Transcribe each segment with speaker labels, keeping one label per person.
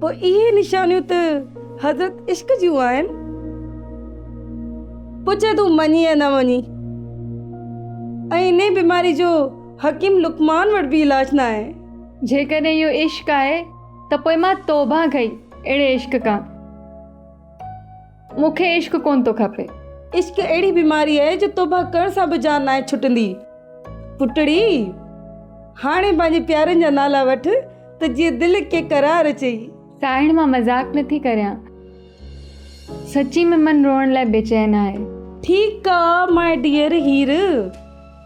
Speaker 1: پوء اهي نشانيون ته حضرت عشق جون آهن. پڇي تون مڃين يا نه مڃين. ۽ انهيء بيماري جو حڪيم لقمان وٽ به علاج ناهي. جيڪڏهن اهو
Speaker 2: عشق آهي ته پوء مان توبهه ڪئي اهڙي عشق کان. مون کي عشق ڪونه ٿو کپي. عشق اهڙي
Speaker 1: بيماري آهي جو توبه ڪرڻ سان به جان ناهي ڇٽندي. پٽڙي! هاڻي پنهنجي پيارن جا نالا وٺ ته جيئن دل کي قرار اچئي. ساهڻ مان مذاق
Speaker 2: نه ٿي ڪريان. سچي ۾ من روئڻ لاء بيچين آهي. ٺيڪ آ
Speaker 1: مائي ڊيئر هير.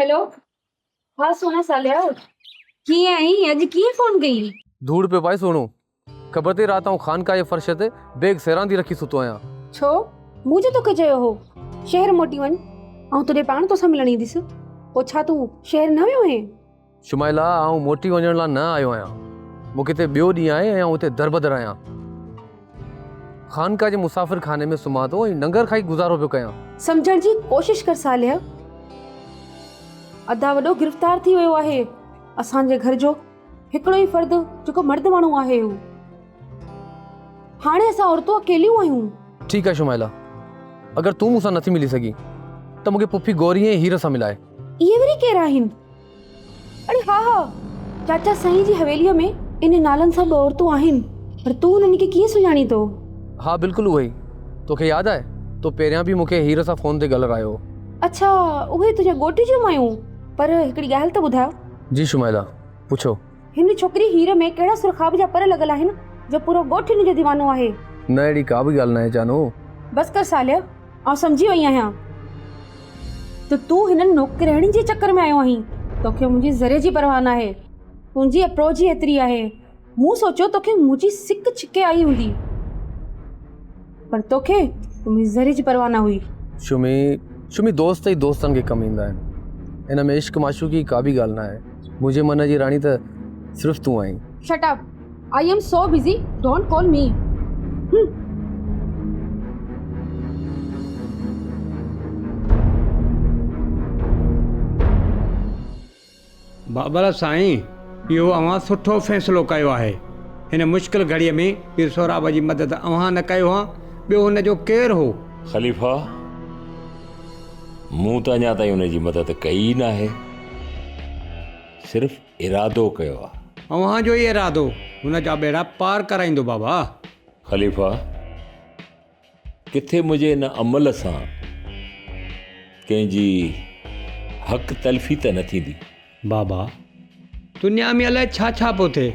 Speaker 3: هيلو ها سونا ساليا ڪيئن آهين اڄ ڪيئن فون ڪيئي. ڌوڙ پيو پائي سهڻو
Speaker 4: خبر تي رات آئون خانقاهه جي فرش تي بيگ سيراندي رکي ستو آهيان. ڇو مون
Speaker 3: جو توکي چيو هو شهر موٽي وڃ آئون تون ڏي پاڻ توسان ملڻ اينديس پوء ڇا تون شهر نه ويو هئين. شمائلا، آئون
Speaker 4: موٽي وڃڻ لاء نه آيو آهيان. مون کي هتي ٻيو ڏينهن آهي ۽ آئون هتي دربدر آهيان. خانقاهه جي مسافر خاني ۾ سمهان ٿو ۽ ننگر کائي گذارو پيو ڪيان. سمجهڻ جي ڪوشش
Speaker 3: ڪر صالح. ادا وڏو گرفتار ٿي ويو آهي. اسان جي گهر جو هڪڙو ئي فرد جيڪو مرد ماڻهو آهي هو. هاڻي اسان عورتون اڪيليون آهيون. ٺيڪ آهي شمائلا،
Speaker 4: اگر تون مون سان نٿي ملي سگهين ته مون کي پڦي گوري ۽ هير سان ملائي. اهي وري ڪير
Speaker 3: آهن؟ اڙي ها ها، چاچا سائين جي حويليء ۾ انهن نالن سان ٻه عورتون آهن، پر تون انهن کي ڪيئن سڃاڻين ٿو؟ ها بلڪل اهي
Speaker 4: ئي، توکي ياد آهي، تو پهريان به مون کي هير سان فون تي ڳالرايو هو. اڇا، اهي
Speaker 3: تنهنجي ڳوٺ جون مايون، پر هڪڙي ڳالهه ته ٻڌاء. جي شمائلا، پڇو.
Speaker 4: هن ڇوڪري
Speaker 3: هير ۾ ڪهڙا سرخاب جا پر لڳل آهن، جو پورو ڳوٺ هن جو ديوانو آهي. نه اهڙي ڪا به
Speaker 4: ڳالهه ناهي جانو. بس ڪر صالح،
Speaker 3: آئون سمجهي وئي آهيان ته تون هنن نوڪرياڻين جي چڪر ۾ آيو آهين توکي منهنجي ذري جي پرواهه نه آهي تنهنجي اپروچ ئي ايتري آهي مون سوچيو توکي منهنجي سڪ ڇڪي آئي هوندي پر توکي منهنجي ذري جي پرواهه نه هئي شمي
Speaker 4: شمي دوست ئي دوستن کي ڪم ايندا آهن هن ۾ عشق معشوقي ڪا به ڳالهه نه آهي منهنجي من جي راڻي ته صرف تون آهين shut up
Speaker 3: I am so busy don't call me hmm.
Speaker 5: Babal سائين اهو اوهان سٺو فيصلو ڪيو آهي هن مشڪل گهڙي ۾ پير سهراب جي مدد اوهان نه ڪئي هئان ٻيو هن جو ڪير هو. خليفه
Speaker 6: مون ته اڃا تائين ان جي مدد ڪئي ئي ناهي صرف ارادو ڪيو آ. اوهان جو ئي ارادو
Speaker 5: هن جا ٻيڙا پار ڪرائيندو بابا. خليفا!
Speaker 6: ڪٿي منهنجي ان عمل سان ڪنهن جي حق تلفي ته نه ٿيندي؟ بابا!
Speaker 5: دنيا ۾ الائي ڇا ڇا پيو ٿئي.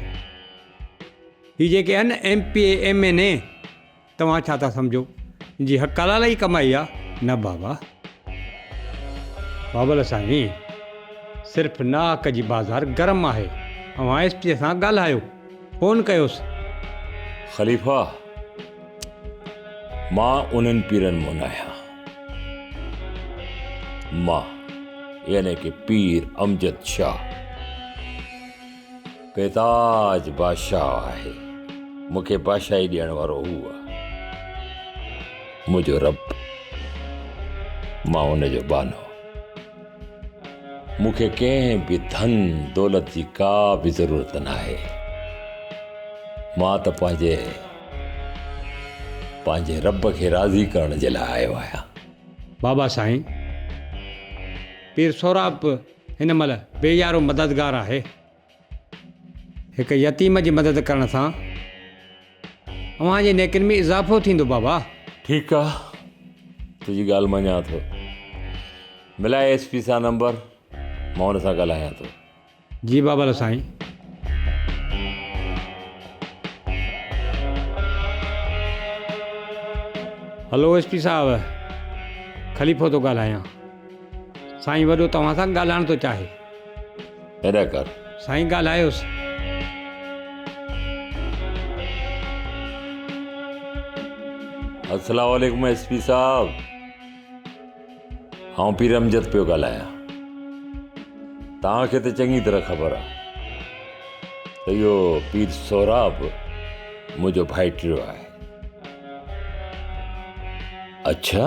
Speaker 5: هي جيڪي آهن M P A M N A. توهان ڇا ٿا سمجهو جي حق حلال ئي ڪمائي آ نه بابا بابل سائين صرف ناحق جي بازار گرم آهي اوهان ايس پي سان ڳالهايو فون ڪيوس
Speaker 6: خليفا مان انهن پيرن مون آهيان مان يعني ڪي پير امجد شاهه بيتاج بادشاهه آهي، مون کي بادشاهي ڏيڻ وارو هو آهي، منهنجو رب، مان ان جو ٻانهو. مون کي ڪنهن به ڌن دولت جي ڪا به ضرورت ناهي. مان ته پنهنجي پنهنجي رب کي راضي ڪرڻ جي لاء آيو آهيان. بابا
Speaker 5: سائين، پير سهراب هن مهل بي يارو مددگار آهي. هڪ يتيم جي مدد ڪرڻ سان اوهان جي نيڪين ۾ اضافو ٿيندو بابا. ٺيڪ آ
Speaker 6: تنهنجي ڳالهه مڃان ٿو. ملائي ايس پي سان نمبر مان ان سان ڳالهايان ٿو. جي Babal
Speaker 5: Sain. Hello S P صاحب خليفو ٿو ڳالهايان. سائين وڏو توهان سان ڳالهائڻ ٿو چاهي. ادا
Speaker 6: ڪر. سائين ڳالهايوس. السلام عليڪم ايس پي صاحب آئون پير امجد پيو ڳالهايان توهان کي ته چڱي طرح خبر آهي ته اهو پير سهراب منهنجو ڀائٽيو آهي اڇا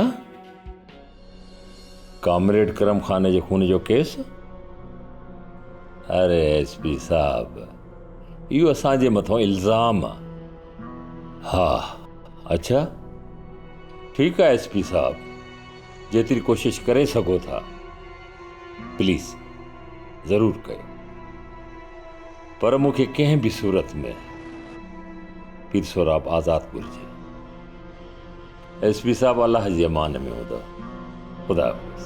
Speaker 6: ڪامريڊ ڪرم خان جي خون جو ڪيس؟ اري ايس پي صاحب اهو اسان جي مٿان الزام آ. ها اڇا ٺيڪ آ ايس پي صاحب جيتري ڪوشش ڪري سگهو ٿا پليز ضرور ڪيو پر مون کي ڪنهن به صورت ۾ پير سهراب آزاد گهرجي. ايس پي صاحب الله جي امان ۾ هوندؤ خدا حافظ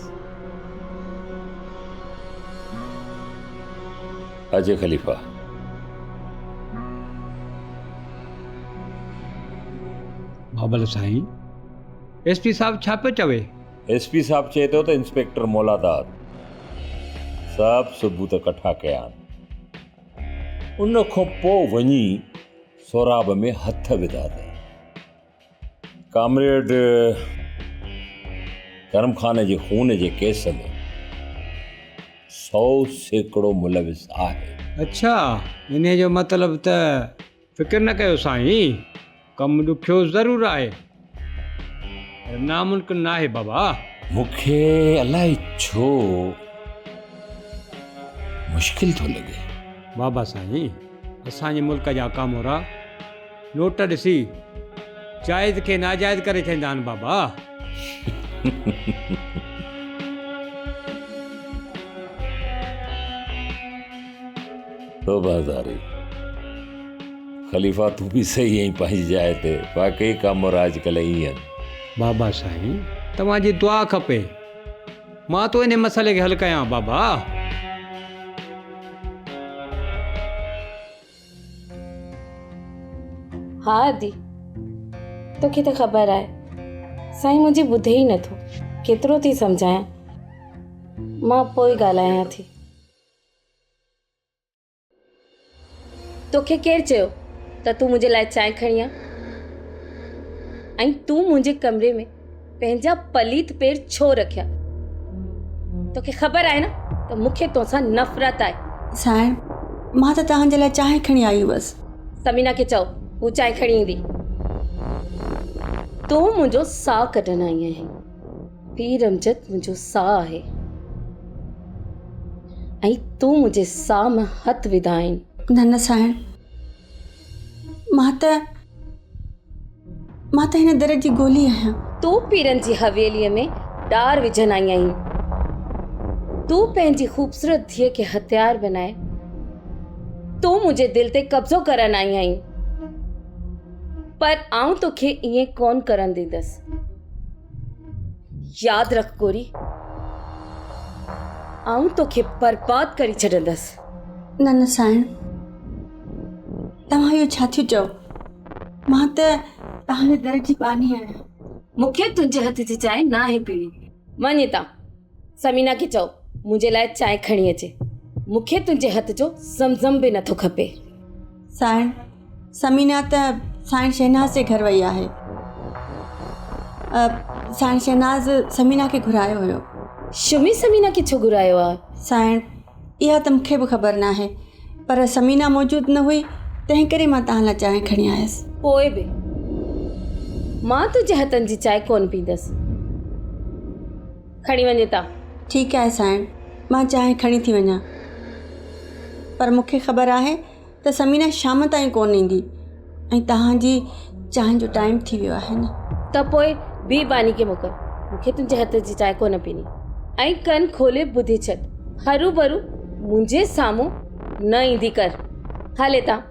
Speaker 6: اجي خليفا
Speaker 5: بابل سائين ايس پي صاحب ڇا پيو چوي ايس پي صاحب چئي
Speaker 6: ٿو ته انسپيڪٽر مولاداد سڀ ثبوت ڪٺا ڪيا ان کان پوء وڃي سوراب ۾ هٿ وڌا اٿئي ڪامريڊ ڪرم خان جي خون جي ڪيس ۾ سؤ سيڪڙو ملوث آهي. اڇا
Speaker 5: انهي جو مطلب ته فڪر نه ڪيو سائين ڪم ڏکيو ضرور آهي پر ناممڪن ناهي بابا. مون کي
Speaker 6: الائي ڇو مشڪل ٿو لڳي. بابا سائين
Speaker 5: اسان جي ملڪ جا ڪامورا. نوٽ ڏسي جائز کي ناجائز ڪري ڇڏيندا آهن بابا.
Speaker 6: توبه هزاري خليفا تون به صحيح ائين پنهنجي جاء تي واقعي ڪامورا اڄڪلهه ائين آهن. بابا سائين
Speaker 5: توهان جي دعا کپي مان ٿو انهي مسئلي کي حل ڪيان بابا.
Speaker 3: ها ادي توکي ته خبر آهي سائين منهنجي ٻڌي ئي نٿو ڪيترو ٿي سمجهايان مان پوء ڳالهايان ٿي توکي ڪير چيو ته تون منهنجي لاء چانهه کڻي آ ۽ تون منهنجي ڪمري ۾ پنهنجا پليت پير ڇو رکيا؟ توکي خبر آهي نه ته مون کي توسان نفرت آهي. سائين،
Speaker 7: مان ته توهان جي لاء چانهه کڻي آئي هئس. ثمينه کي چئو
Speaker 3: هو چانهه کڻي ايندي. تون منهنجو ساهه ڪڍڻ آئي آهين. پير امجد منهنجو ساهه آهي ۽ تون منهنجي ساهه ۾ هٿ وڌا آهين. نه نه سائين.
Speaker 7: مان ته مان ته هن در جي گولي آهيان تون پيرن جي
Speaker 3: حويليء ۾ ڏار وجهڻ آئي آهين تون پنهنجي خوبصورت ڌيء کي هٿيار بنائي تون منهنجي دل تي قبضو ڪرڻ آئي آهين پر آئون توکي ائين ڪون ڪرڻ ڏيندس ياد رک گوري آئون توکي برباد ڪري ڇڏندس نه نه سائڻ
Speaker 7: توهان اهو ڇا ٿيو چئو مان ته تهانجي در جي ٻانهي آهيان مون کي تنهنجي
Speaker 3: هٿ جي چانهه ناهي پيڻي وڃ هتان سمينا کي چئو منهنجي لاء چانهه کڻي اچي مون کي تنهنجي هٿ جو زمزم به نٿو کپي سائڻ
Speaker 7: ثمينه ته سائڻ شهناز جي گهر وئي آهي سائڻ شهناز ثمينه کي گهرايو هيو شمي ثمينه
Speaker 3: کي ڇو گهرايو آهي سائڻ
Speaker 7: اها ته مونکي به خبر نه آهي پر ثمينه موجود نه هئي تنهن ڪري مان تان لاء چانهه کڻي آيس پوء به
Speaker 3: مان تنهنجي هٿن جي چانهه ڪونه پيندس کڻي وڃي ته. ٺيڪ آهي سائڻ،
Speaker 7: مان چانهه کڻي ٿي وڃان. پر مون کي خبر آهي ته ثمينه شام تائين ڪونه ايندي ۽ توهان جي چانهه جو ٽائيم ٿي ويو آهي نه. ته پوء
Speaker 3: بيهه باني کي موڪل. مون کي تنهنجي هٿ جي چانهه ڪونه پيڻي ۽ ڪن کولي ٻڌي ڇڏ. هروڀرو منهنجي سامهون نه ايندي ڪر. هل هتان.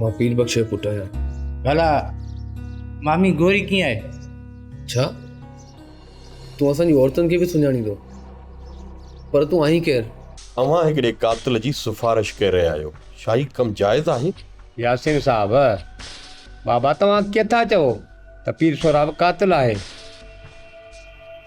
Speaker 4: مان پير بخش جو پٽ آهيان ڀلا
Speaker 8: مامي گوري ڪيئن آهي ڇا
Speaker 4: تون اسان جي عورتن کي به سڃاڻين ٿو پر تون آهين ڪير اوهان هڪڙي
Speaker 9: قاتل جي سفارش ڪري رهيا آهيو ڇا هي ڪم جائز آهي ياسين صاحب
Speaker 5: بابا توهان ڪيئن ٿا چئو ته پير سهراب قاتل آهي.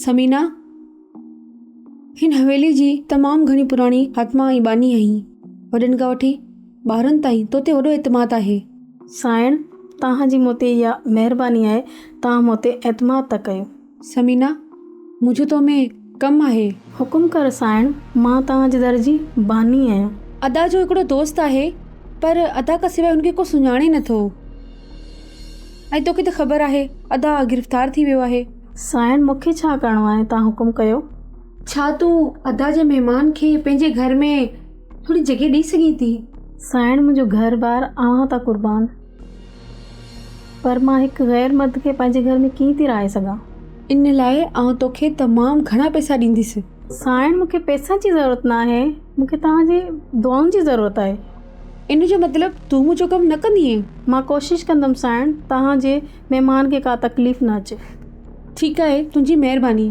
Speaker 3: ثمينه، هن حويلي جي تمام گهڻي پراڻي حاتمه ۽ ٻانهي آهين. وڏن کان وٺي ٻارن تائين تو تي وڏو اعتماد آهي. سائڻ،
Speaker 10: توهان جي مون تي اها مهرباني آهي، توهان مون تي اعتماد ٿا ڪيو. ثمينه!
Speaker 3: منهنجو تو ۾ ڪم آهي. حڪم ڪر سائڻ،
Speaker 10: مان توهان جي در جي باني آهيان. ادا جو هڪڙو
Speaker 3: دوست آهي، پر ادا کان سواء هن کي ڪو سڃاڻي نه ٿو. ۽ توکي ته خبر آهي، ادا گرفتار ٿي ويو آهي. سائڻ، مون کي ڇا
Speaker 10: ڪرڻو آهي، توهان حڪم ڪيو. ڇا تون
Speaker 3: ادا جي مهمان کي پنهنجي گهر ۾ ٿوري جڳهه ڏئي سگهين ٿي؟ سائڻ، منهنجو
Speaker 10: گهر بار اوهان تان قربان. پر مان هڪ غير مرد کي پنهنجي گهر ۾ ڪيئن ٿي رهائي سگهان؟ ان لاء
Speaker 3: آئون توکي تمام گهڻا پئسا ڏينديس. سائڻ مون کي
Speaker 10: پئسن جي ضرورت ناهي، مون کي توهان جي دعائن جي ضرورت آهي. ان جو
Speaker 3: مطلب تون منهنجو ڪم نه ڪندينء؟ مان ڪوشش ڪندم
Speaker 10: سائڻ، توهان جي مهمان کي ڪا تڪليف نه اچي. ٺيڪ آهي،
Speaker 3: تنهنجي مهرباني.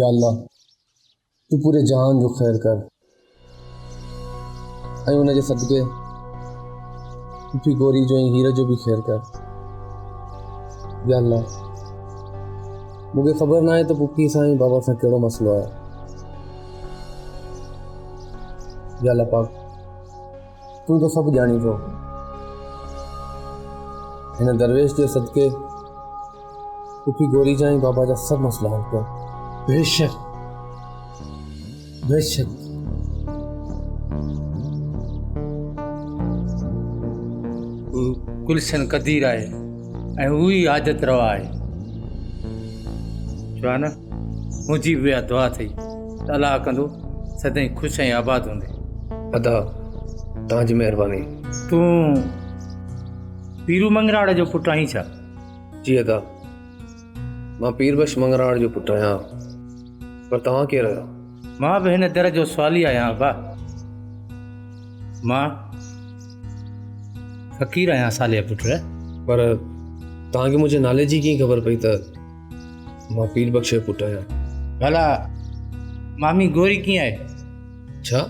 Speaker 4: يا الله تون پوري جهان جو خير ڪر ۽ ان جي صدقي پڦي گوري جو ۽ هير جو به خير ڪر يا الله مون کي خبر ناهي ته پڦي سان ۽ بابا سان ڪهڙو مسئلو آهي يا الله پاڪ تون ته سڀ ڄاڻين ٿو. هن درويش جي صدقي پڦي گوري جا ۽ بابا جا سڀ مسئلا حل ڪيا. بيشڪ
Speaker 8: بيشڪ. هو گلشن قدير آهي ۽ هو ئي حاجت روا آهي. شاهانه منهنجي به اها دعا اٿئي. صلاح ڪندو سدائين خوش ۽ آباد هوندي. ادا
Speaker 4: توهان جي مهرباني. تون
Speaker 8: پيرو منگراڙ جو پٽ آهين ڇا؟ جي ادا
Speaker 4: مان پير بخش منگراڙ جو پٽ آهيان پر توهان ڪير آهيو؟ مان به هن در
Speaker 8: جو سوالي آهيان ابا مان فقير آهيان صالح پٽ. پر
Speaker 4: توهان کي منهنجي نالي جي ڪيئن خبر پئي ته مان پير بخش جو پٽ آهيان ڀلا
Speaker 8: مامي گوري ڪيئن آهي ڇا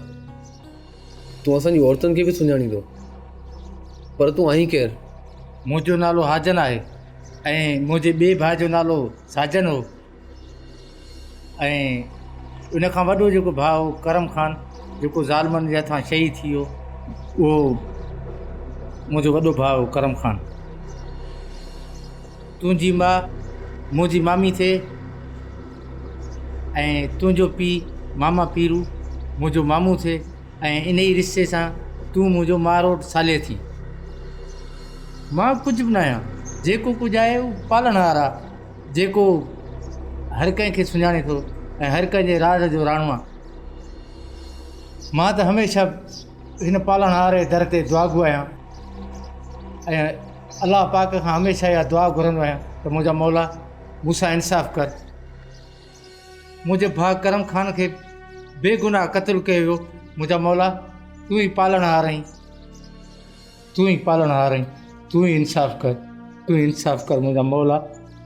Speaker 4: تون اسان جي عورتن کي به سڃاڻين ٿو پر تون آهين ڪير منهنجو نالو
Speaker 8: حاجن آهي ۽ منهنجي ٻئي ڀاء جو نالو ساجن هو ۽ ان کان وڏو جيڪو ڀاء هو ڪرم خان جيڪو ظالمن جي هٿان شهيد ٿي ويو اهو منهنجو وڏو ڀاء هو ڪرم خان تنهنجي ماء منهنجي مامي ٿئي ۽ تنهنجو پيء ماما پيرو منهنجو مامو ٿئي ۽ ان ئي رشتي سان تون منهنجو ماروٽ ساليء ٿي مان ڪجهه به ناهيان جيڪو ڪجهه آهي اهو پالڻ هار آ جيڪو هر ڪنهن کي سڃاڻي ٿو ۽ هر ڪنهن جي راز جو راڻو آ مان ته هميشه هن پالڻ هار جي در تي دعاگو آهيان ۽ الله پاڪ کان هميشه اها دعا گهرندو آهيان ته منهنجا مولا مون سان انصاف ڪر منهنجي ڀاء ڪرم خان کي بي گناهه قتل ڪيو ويو منهنجا مولا تون ئي پالڻهار آهين تون ئي پالڻهار آهين تون ئي انصاف ڪر تون ئي انصاف ڪر منهنجا مولا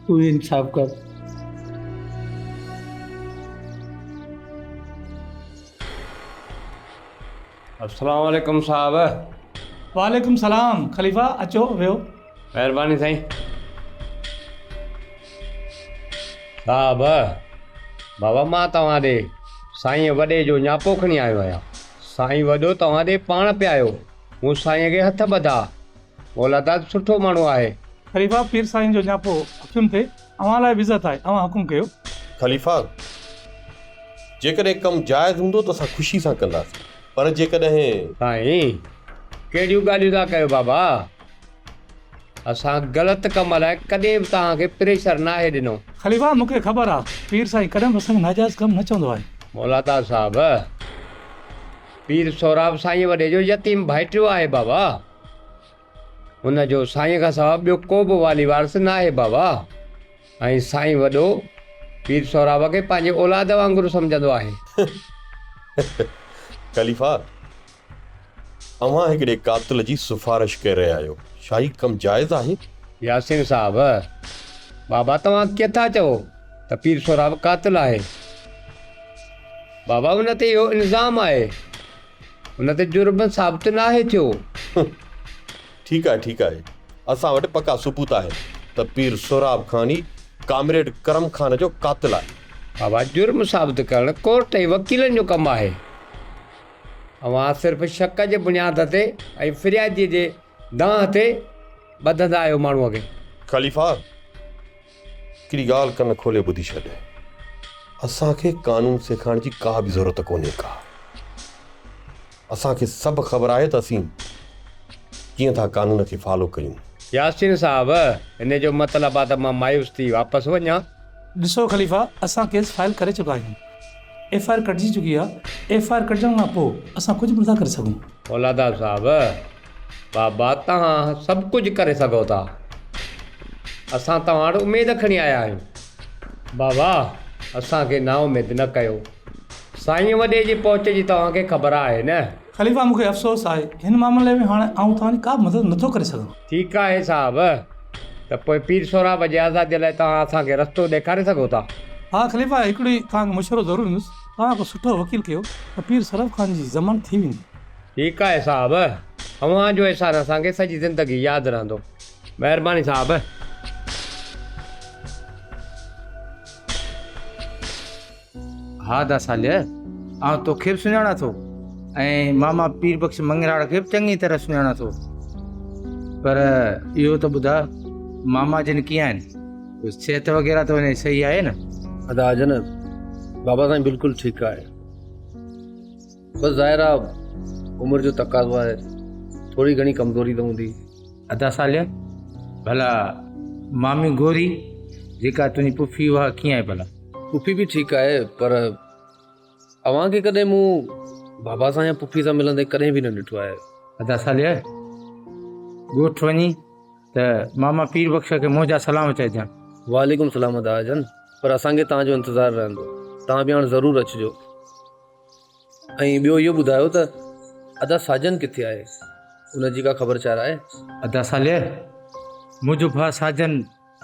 Speaker 8: تون ئي انصاف ڪر
Speaker 5: السلام عليڪم صاحب. وعليڪم
Speaker 11: السلام خليفه اچو ويهو. مهرباني سائين.
Speaker 5: صاحب بابا مان توهان ڏي سائين وڏي جو نياپو کڻي آيو آهيان سائين وڏو توهان ڏي پاڻ پي آيو مون سائين کي هٿ ٻڌا مولاداد سٺو ماڻهو آهي. خليفه پير سائين
Speaker 11: جو نياپو اکين تي. اوهان لاء وزت آهي، اوهان حڪم ڪيو. خليفا!
Speaker 9: جيڪڏهن ڪم جائز هوندو ته اسان خوشي سان ڪنداسين، پر جيڪڏهن. سائين!
Speaker 5: ڪهڙيون ڳالهيون ٿا ڪيو بابا؟ اسان غلط ڪم لاء ڪڏهن به توهان کي پريشر ناهي ڏنو. خليفا! مون کي خبر
Speaker 11: آهي، پير سائين ڪڏهن به اسان کي ناجائز ڪم نه چوندو آهي. مولادار صاحب!
Speaker 5: پير سهراب سائينء وڏي جو يتيم ڀائٽيو آهي بابا. هن جو سائين کان سواء ٻيو ڪو به والي وارث ناهي بابا ۽ سائين وڏو پير سهراب کي پنهنجي اولاد وانگر سمجهندو آهي.
Speaker 9: خليفا اوهان هڪڙي قاتل جي سفارش ڪري رهيا آهيو ڇا هي ڪم جائز آهي؟ ياسين صاحب
Speaker 5: بابا توهان ڪيئن ٿا چئو ته پير سهراب قاتل آهي بابا ان تي اهو الزام آهي. ان تي جرم ثابت ناهي ٿيو.
Speaker 9: ٺيڪ آهي ٺيڪ آهي اسان وٽ پڪا ثبوت آهن ته پير سهراب خان ئي ڪامريڊ ڪرم خان جو قاتل آهي. بابا جرم
Speaker 5: ثابت ڪرڻ ڪورٽ ۽ وڪيلن جو ڪم آهي اوهان صرف شڪ جي بنياد تي ۽ فريادي جي دانهن تي ٻڌندا آهيو ماڻهو کي. خليفا!
Speaker 9: هڪڙي ڳالهه ڪن کولي ٻڌي ڇڏ. اسان کي قانون سيکارڻ جي ڪا به ضرورت ڪونهي ڪا. اسان کي سڀ خبر آهي ته اسين ڪيئن ٿا قانون کي فالو ڪيون. ياسين صاحب
Speaker 5: ان جو مطلب آ ته مان مايوس ٿي واپس وڃان. ڏسو خليفا
Speaker 11: اسان ڪيس فائل ڪري چڪا آهيون. ايف آء آر ڪٽجي چڪي آ. ايف آء آر ڪٽجڻ کان پوء اسان ڪجهه به نٿا ڪري سگهون. فولادار صاحب
Speaker 5: بابا توهان سڀ ڪجهه ڪري سگهو ٿا اسان توهان وٽ اميد کڻي آيا آهيون بابا اسان کي نا اميد نه ڪيو سائين وڏي جي پهچ جي توهان کي خبر آهي نه. خليفا مون کي افسوس
Speaker 11: آهي هن معاملي ۾ هاڻي آئون توهان جي ڪا به مدد نه ٿو ڪري سگهان. ٺيڪ آهي صاحب
Speaker 5: ته پوء پير سهراب جي آزادي لاء توهان اسان کي رستو ڏيکاري سگهو ٿا. ها خليفا هڪڙي
Speaker 11: توهان کي مشورو ضرور ڏيندس توهان ڪو سٺو وڪيل ڪيو ته پير سهراب خان جي ضمانت ٿي ويندي. ٺيڪ آهي
Speaker 5: صاحب اوهان جو احسان اسان کي سڄي زندگي ياد رهندو مهرباني صاحب.
Speaker 8: ها دا صالح آئون توکي به سڃاڻان ٿو ۽ ماما پير بخش مڱراڙ کي به چڱي طرح سڃاڻان ٿو پر اهو ته ٻڌاء ماما جن ڪيئن آهن صحت وغيره ته وڃي صحيح آهي نه؟ ادا جن
Speaker 4: بابا سائين بلڪل ٺيڪ آهي. بس ظاهر آ عمر جو تقاضو آهي ٿوري گهڻي ڪمزوري ته هوندي. ادا صالح
Speaker 8: ڀلا مامي گوري جيڪا تنهنجي پڦي اها ڪيئن آهي ڀلا. پڦي به ٺيڪ آهي
Speaker 4: پر اوهان کي ڪڏهن مون بابا سان يا پڦي سان ملندي ڪڏهن به نه ڏٺو آهي. ادا صالح
Speaker 8: ڳوٺ وڃي ته ماما پير بخش کي منهنجا سلام چئجان. وعليڪم سلام ادا
Speaker 4: جان پر اسان کي توهان جو انتظار رهندو توهان به هاڻ ضرور اچجو. ۽ ٻيو اهو ٻڌايو ته ادا ساجن ڪٿي آهي ان جي ڪا خبر چار آهي؟ ادا صالح
Speaker 8: منهنجو ڀاء ساجن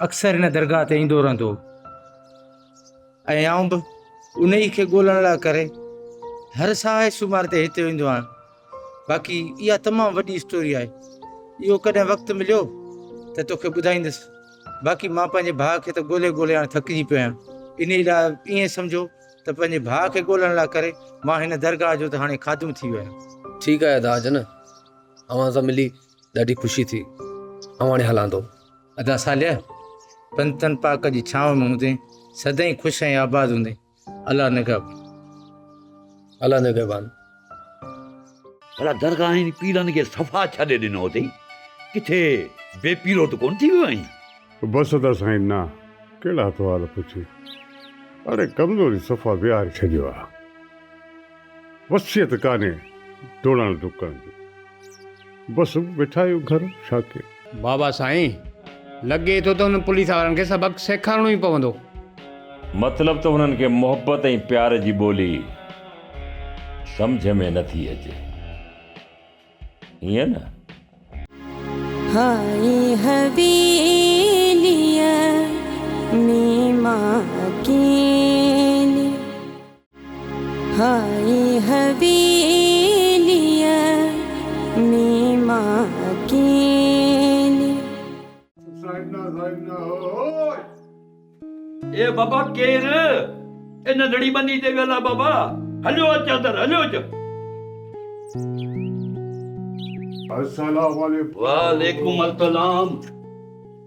Speaker 8: اڪثر ان درگاهه تي ايندو رهندو هو ۽ آئون به انهي کي ڳولڻ لاء ڪري هر ساهي سومار تي هتي ايندو آهيان باقي اها تمام وڏي اسٽوري آهي اهو ڪڏهن وقت مليو ته توکي ٻڌائيندس باقي مان پنهنجي ڀاء کي ته ڳولي ڳولي هاڻي ٿڪجي پيو آهيان انهي لاء ائين سمجهو ته پنهنجي ڀاء کي ڳولڻ لاء ڪري مان هن درگاهه جو ته هاڻي خادم ٿي ويم. ٺيڪ آهي ادا جن
Speaker 4: اوهان سان ملي ڏاڍي خوشي ٿي آئون هاڻي هلان ٿو. ادا صالحه
Speaker 8: پنتن پاڪ جي ڇانو ۾ هوندين سدائين خوش ۽ آباد هوندين الله نگهبان.
Speaker 4: الله نگهبان.
Speaker 12: ڀلا درگاهين پيرن کي صفا ڇڏي ڏنو اٿئي، ڪٿي بي پيرو ته ڪونه ٿي ويو آهين؟
Speaker 13: بس ته سائين نا ڪهڙا سوال پڇي، اڙي ڪمزوري صفا ويهاري ڇڏيو آهي، وصيت ڪانهي ڊوڙڻ ڊڪڻ جي. بس ويٺا آهيو گهر ڇا ڪيو. بابا سائين
Speaker 5: لڳي ٿو ته انهن پوليس وارن کي سبق سيکارڻو ئي پوندو. مطلب
Speaker 6: ته انهن کي محبت ۽ پيار جي ٻولي سمجهه ۾ نه ٿي اچي ائين نه. هائي
Speaker 14: حويليء ۾ مان اڪيلي. هائي حويليء ۾ مان اڪيلي. سائنا سائنا هوء.
Speaker 15: اي بابا ڪير؟ اي ننڍڙي ٻني تي ويل آ بابا. هليو اچ اندر هليو اچ.
Speaker 13: السلام عليڪم. وعليڪم
Speaker 15: السلام.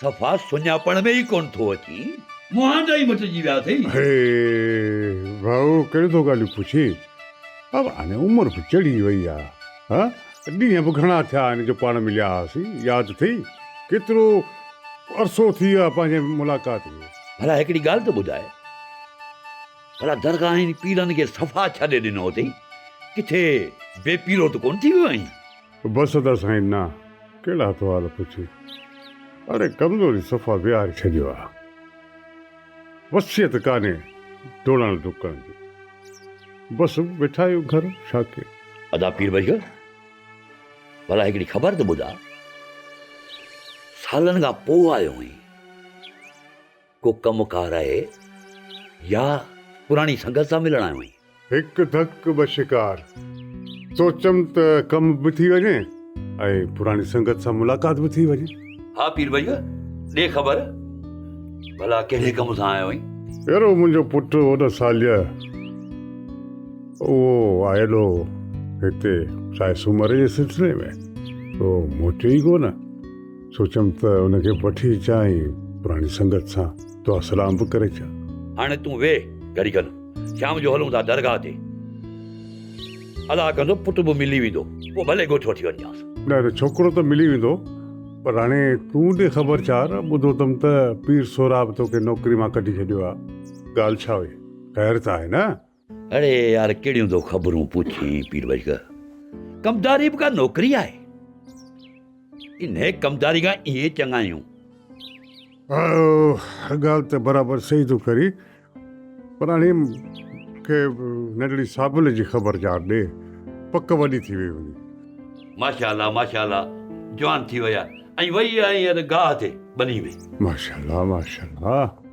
Speaker 15: صفا سڃاپڻ ۾ ئي ڪونه ٿو اچين. مهانڊا ئي مٽجي ويا اٿئي. هي
Speaker 13: ڀائو ڪير ٿو ڳالهيون پڇي. اب هاڻي عمر به چڙهي وئي آ. ها ڏينهن به گهڻا ٿيا آهن جو پاڻ مليا هئاسين. ياد اٿئي ڪيترو عرصو ٿي ويو آهي پنهنجي ملاقات کي. ڀلا هڪڙي ڳالهه ته
Speaker 15: ٻڌاء ڀلا درگاهين پيرن کي صفا ڇڏي ڏنو اٿئي. ڪٿي بي پيرو ته ڪونه ٿي ويو آهين. بس ادا
Speaker 13: سائين نه ڪهڙا احوال پڇي اڙي ڪمزوري صفا ويهاري ڇڏيو آ وصيت ڪانهي ڊوڙڻ ڊڪڻ جي بس ويٺا آهيون گهر ڇا ڪي. ادا پير بيگ
Speaker 15: ڀلا هڪڙي خبر ته ٻڌاء سالن کان پوء آيو آهين. ڪو ڪم ڪار آهي يا پراڻي سنگت سان ملڻ آيو آهين؟ هڪ ڌڪ ٻه
Speaker 13: شڪار. سوچيم ته ڪم به ٿي وڃي ۽ پراڻي سنگت سان ملاقات به ٿي وڃي. ها پير ڀئيء
Speaker 15: ڏي خبر ڀلا ڪهڙي ڪم سان آيو آهين؟ يار اهو منهنجو
Speaker 13: پٽ هو نه ساليه اهو آيل هو هتي سائي سومري جي سلسلي ۾ اهو موٽي ئي ڪو نه. سوچيم ته ان کي وٺي اچان ۽ پراڻي سنگت سان دعا سلام به ڪري اچان. هاڻي تون ويهه
Speaker 15: گهڙي کن، شام جو هلون ٿا درگاهه تي. الله ڪندو پٽ به ملي ويندو، پوء ڀلي ڳوٺ وٺي وڃجانس. نه نه، ڇوڪرو ته
Speaker 13: ملي ويندو، پر هاڻي تون ڏي خبر چار، ٻڌو اٿم ته پير سهراب توکي نوڪري مان ڪڍي ڇڏيو آهي. ڳالهه ڇا هئي، خير ته آهي نه؟ اڙي يار
Speaker 15: ڪهڙيون ٿو خبرون پڇين پير بشڪه ڪمداري به ڪا نوڪري آهي انهي ڪمداري کان اهي چڱا آهيون هر
Speaker 13: ڳالهه ته برابر صحيح ٿو ڪري پر هاڻي کي ننڍڙي صابن جي خبر چار ڏي پڪ وڏي ٿي وئي وڃي ماشاء الله ماشاء
Speaker 15: الله جوان ٿي وئي آهي ۽ وئي آهي هينئر گاهه تي ٻني ۾ ماشاء الله ماشاء
Speaker 13: الله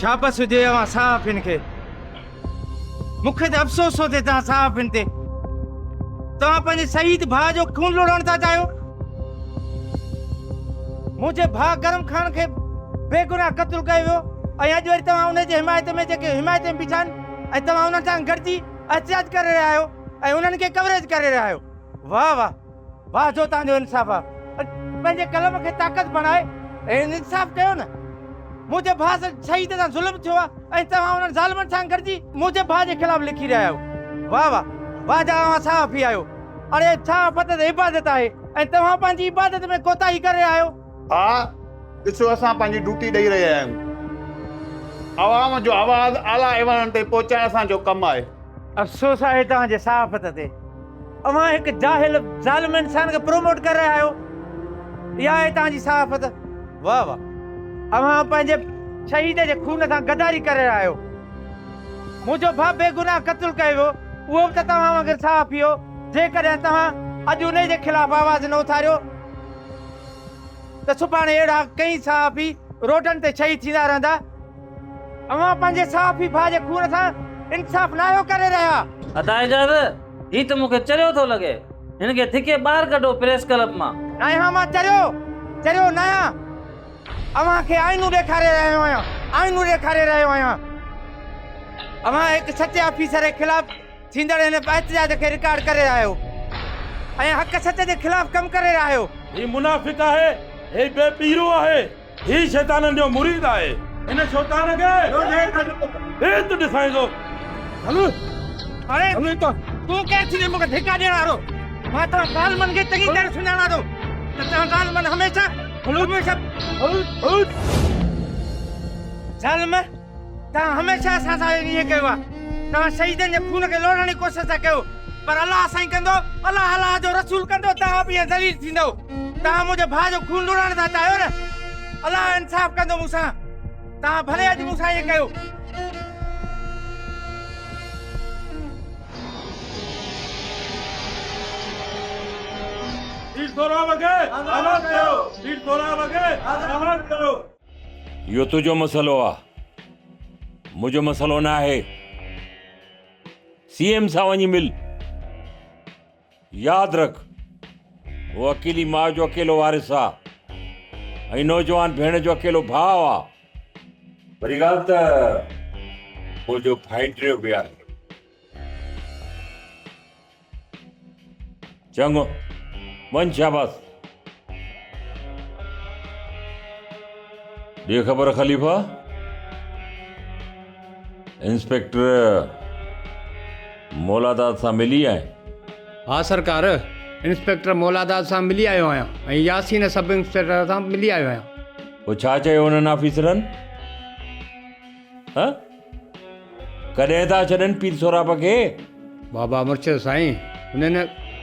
Speaker 16: شابس هجي اوهان صحافين کي مون کي ته افسوس ٿو ٿئي توهان صحافين تي توهان پنهنجي شهيد ڀاء جو خون لڙائڻ ٿا چاهيو منهنجي ڀاء گرم خان کي بيگناهه قتل ڪيو ويو ۽ اڄ وري توهان ان جي حمايت ۾ جيڪي حمايت ۾ بيٺا آهن ۽ توهان انهن سان گڏجي احتجاج ڪري رهيا آهيو ۽ انهن کي ڪوريج ڪري رهيا آهيو واھ واھ واھ جو توھان جو انصاف آ پنھنجي قلم کي طاقت بڻائي ھن انصاف ڪيو نه منھنجي ڀاء سان شھيد سان ظلم ٿيو آ ۽ توھان انھن ظالمن سان گڏجي منھنجي ڀاء جي خلاف لکي رھيا آھيو واھ واھ واھ جا اوھان صحافي آھيو اڙي صحافت ته عبادت آھي ۽ توھان پنھنجي عبادت ۾ ڪوتاھي ڪري رھيا آھيو. آء
Speaker 11: ڏسو اسان پنهنجي ڊوٽي ڏئي رهيا آهيون. عوام جو آواز اعليٰ ايوانن تائين پهچائڻ اسان جو ڪم آهي. افسوس آهي
Speaker 16: توهان جي صحافت تي. اوهان هڪ جاهل ظالم انسان کي پروموٽ ڪري رهيا آهيو. اها آهي توهان جي صحافت. واه واه. اوهان پنهنجي شهيد جي خون سان غداري ڪري رهيا آهيو. منهنجو ڀاء بيگناهه قتل ڪيو ويو اهو به ته توهان وانگر صحافي هو. جيڪڏهن توهان اڄ انهي جي خلاف آواز نه اٿاريو. ته سڀاڻي اهڙا ڪئين صحافي روڊن تي شهيد ٿيندا رهندا. اوهان پنهنجي صحافي ڀاء جي خون سان انصاف ناهيو ڪري رهيا. ادا اعجاز
Speaker 17: هي ته مونکي چريو ٿو لڳي هن کي ڌڪي ٻاهر ڪڍو پريس ڪلب مان. ناهيان مان چريو
Speaker 16: چريو ناهيان اوهان کي آئينو ڏيکاري رهيو آهيان آئينو ڏيکاري رهيو آهيان اوهان هڪ سچي آفيسر جي خلاف. ٿيندڙ هن به احتجاج کي رڪارڊ ڪري آهيو ۽ حق سچ جي خلاف ڪم ڪري آهيو. هي منافق آهي
Speaker 11: هي بي پيرو آهي هي شيطانن جو مريد آهي هن شوطان کي بيت ڏسائيندو. هل اڙي
Speaker 16: هل هتان. تون ڪير ٿيندين مون کي ڌڪا ڏيڻ وارو مان توهان ظالمن کي چڱي طرح سڃاڻان ٿو ته توهان ظالمن هميشه هميشه ظالم توهان هميشه اسان سان ائين ڪيو آهي. توهان شهيدن جي خون کي لوڙهڻ جي ڪوشش ٿا ڪيو. پر الله سائين ڪندو، الله الله جو رسول ڪندو، توهان به ائين ذليل ٿيندؤ. توهان منهنجي ڀاء جو خون لوڙهڻ ٿا چاهيو نه؟ الله انصاف ڪندو مون سان. توهان ڀلي اڄ مون سان ائين ڪيو. ڏيڍ سورا وڳي آزاد ڪيو. ڏيڍ
Speaker 6: سورا وڳي آزاد ڪيو. اهو تنهنجو مسئلو آ منهنجو مسئلو نه آهي سي ايم سان وڃي مل ياد رک هو اڪيلي ماء جو اڪيلو وارث آ ۽ نوجوان ڀيڻ جو اڪيلو ڀاء آ وري ڳالهه ته منهنجو ڀائٽيو به آهي. چڱو، وڃ شاباس. ڏي خبر خليفا. انسپيڪٽر مولاداد سان ملي آئين؟ ها
Speaker 5: سرڪار، انسپيڪٽر مولاداد سان ملي آيو آهيان ۽ ياسين سب انسپيڪٽر سان به ملي آيو آهيان. پوء ڇا چيو انهن
Speaker 6: آفيسرن؟ ها ڪڏهن ٿا ڇڏن پير سهراب کي. بابا مرشد
Speaker 5: سائين هنن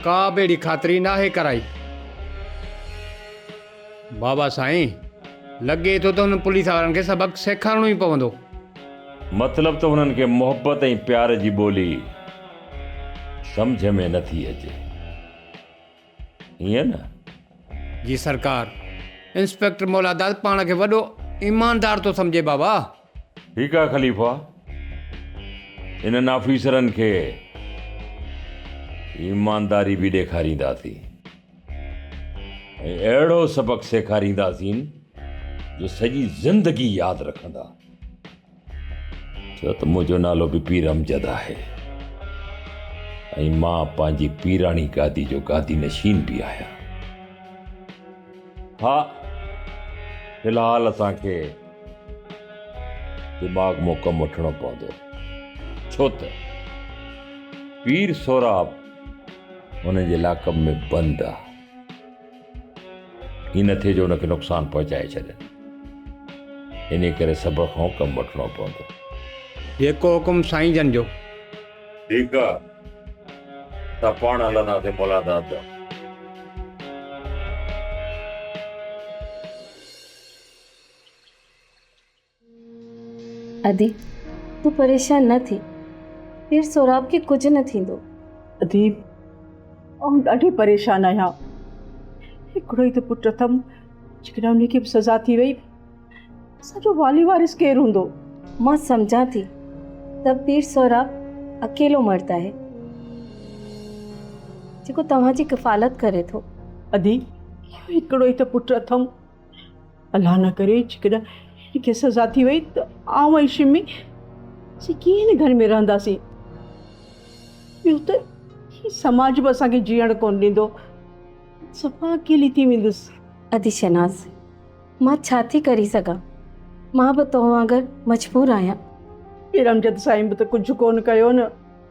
Speaker 5: ڪا به اهڙي خاطري ناهي ڪرائي. بابا سائين لڳي ٿو ته هنن پوليس وارن کي سبق سيکارڻو ئي پوندو. مطلب
Speaker 6: ته هنن کي محبت ۽ پيار جي ٻولي سمجهه ۾ نٿي اچي. ائين نه؟ جي
Speaker 5: سرڪار. انسپيڪٽر مولاداد پاڻ کي وڏو ايماندار ٿو سمجهي بابا. ٺيڪ آهي
Speaker 6: خليفا. انهن آفيسرن کي ايمانداري به ڏيکارينداسين ۽ اهڙو سبق سيکارينداسين جو سڄي زندگي ياد رکندا. ڇو ته منهنجو نالو به پير امجد آهي ۽ مان پنهنجي پيراڻي گادي جو گادي نشين به آهيان ها في الحال اسان کي دماغ مون ڪم وٺڻو پوندو ڇو ته پير سوراب هن جي لاقب ۾ بند آهي هي نه ٿئي جو ان کي نقصان پهچائي ڇڏن انهي ڪري صبر کان ڪم وٺڻو پوندو. جيڪو
Speaker 5: حڪم سائين جن جو. ٺيڪ آ
Speaker 6: اسان پاڻ هلنداسين مولان داد ڏانهن.
Speaker 10: ادي، تون پريشان نه ٿي، پير سهراب کي ڪجهه نه ٿيندو.
Speaker 18: ادي، آئون ڏاڍي پريشان آهيان، هڪڙو ئي ته پٽ اٿم، جيڪڏهن ان کي به سزا ٿي وئي ته اسان جو والي وارث ڪير هوندو؟ مان سمجهان
Speaker 10: ٿي ته پير سهراب اڪيلو مرد آهي، جيڪو توهان جي ڪفالت ڪري ٿو. ادي،
Speaker 18: هڪڙو ئي ته پٽ اٿم. الله نه ڪري جيڪڏهن هن کي سزا ٿي وئي ته آئون ۽ شمي اسين ڪيئن هن گهر ۾ رهنداسين ٻيو ته هي سماج به اسان کي جيئڻ ڪونه ڏيندو صفا اڪيلي ٿي ويندس ادي شناز
Speaker 10: مان ڇا ٿي ڪري سگهان مان به تو وانگر مجبور آهيان ارمجد
Speaker 18: سائين به ته ڪجهه ڪونه ڪيو نه